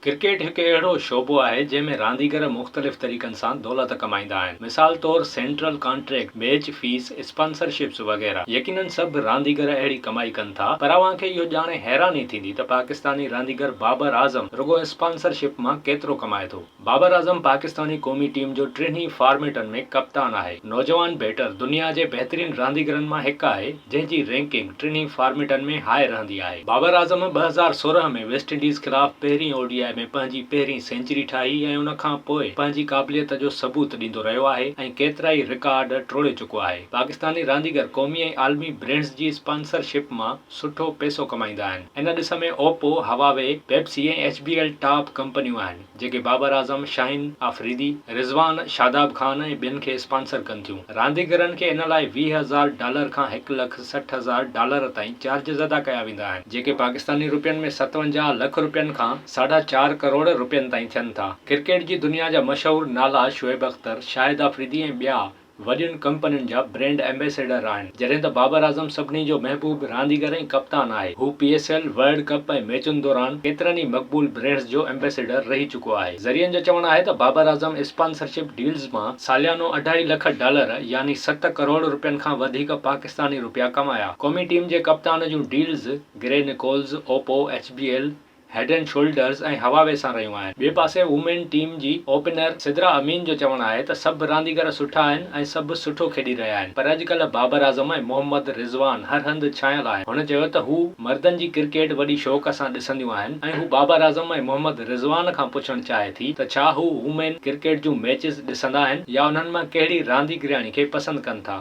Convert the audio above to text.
Cricket هڪ اهڙو شعبو آهي جنهن ۾ رانديگر مختلف طريقن سان دولت ڪمائيندا آهن مثال طور central contract, match fees, sponsorships وغيره يقينن سڀ رانديگر اهڙي ڪمائي ڪن ٿا پر اوهان کي اهو ڄاڻي حيراني ٿيندي ته پاڪستاني رانديگر بابر اعظم رڳو اسپانسرشپ مان ڪيترو ڪمائي ٿو. بابر اعظم پاڪستاني قومي ٽيم جو ٽينهي فارميٽن ۾ ڪپتان آهي، نوجوان بيٽر، دنيا جي بهترين رانديگرن مان هڪ آهي، جنهن جي رينڪنگ ٽنهي فارميٽن ۾ هاء رهندي آهي. بابر اعظم ٻه هزار سورهن ۾ ويسٽ انڊيز خلاف پهرين او ڊي آء ۾ پنهنجي پهرين سينچري ٺاهي ۽ ان کان پوء پنهنجي قابليت جو ثبوت ڏيندو رهيو آهي ۽ ڪيترائي رڪارڊ ٽوڙي چڪو آهي. پاڪستاني رانديگر قومي ۽ عالمي برينڊز جي اسپانسر شپ مان سٺو پيسو ڪمائيندا آهن. ان ڏس ۾ Oppo, Huawei, Pepsi ۽ H B L top ڪمپنيون آهن. جيڪي بابر اعظم، شاهين آفريدي، رضوان، شاداب خان ۽ ٻين کي اسپانسر ڪن ٿيون. رانديگرن کي ان لاء ويهه هزار ڊالر کان هڪ لک سٺ هزار ڊالر تائين چارجز ادا ڪيا ويندا آهن، جيڪي پاڪستاني روپين ۾ ستونجاهه لک روپين کان ساڍا چار ڪروڙ روپين تائين ٿين ٿا. ڪرڪيٽ جي دنيا جا مشهور نالا شعيب اختر، شاهد آفريدي ۽ ٻيا وڏين ڪمپنين جا برينڊ ايمبيسيڊر آهن، جڏهن ته بابر اعظم سڀني جو محبوب رانديگر ۽ ڪپتان آهي. هو P S L, world cup ۽ ميچن دوران ڪيترن ئي مقبول برينڊز جو ايمبيسيڊر رهي چڪو آهي. ذريعن جو چوڻ آهي ته بابر اعظم اسپانسرشپ ڊيلز مان ساليانو اڍائي لک ڊالر يعني ست ڪروڙ رپين کان وڌيڪ پاڪستاني رپيا ڪمايا. قومي ٽيم جي ڪپتان جون deals Gary Nicholls, Oppo, H B L, head and shoulders ۽ هوا ويسان رهيون آهن. ٻئي پاسي وومين ٽيم جي اوپنر سدرا امين جو چوڻ آهي ته سڀ رانديگر سٺا آهن ۽ سڀ سٺو کيڏي رهيا آهن پر اڄڪلهه بابر اعظم ۽ محمد رضوان هر هنڌ ڇانيل آهن. هن چيو ته هو مردن جي ڪرڪيٽ وڏي شوق سان ڏسنديون آهن ۽ هو بابر اعظم ۽ محمد رضوان کان پڇڻ چاهي ٿي ته ڇا هو وومين ڪرڪيٽ جون ميچز ڏسندا آهن يا انهن مان ڪهڙي رانديگرياڻي کي پسند ڪن ٿا.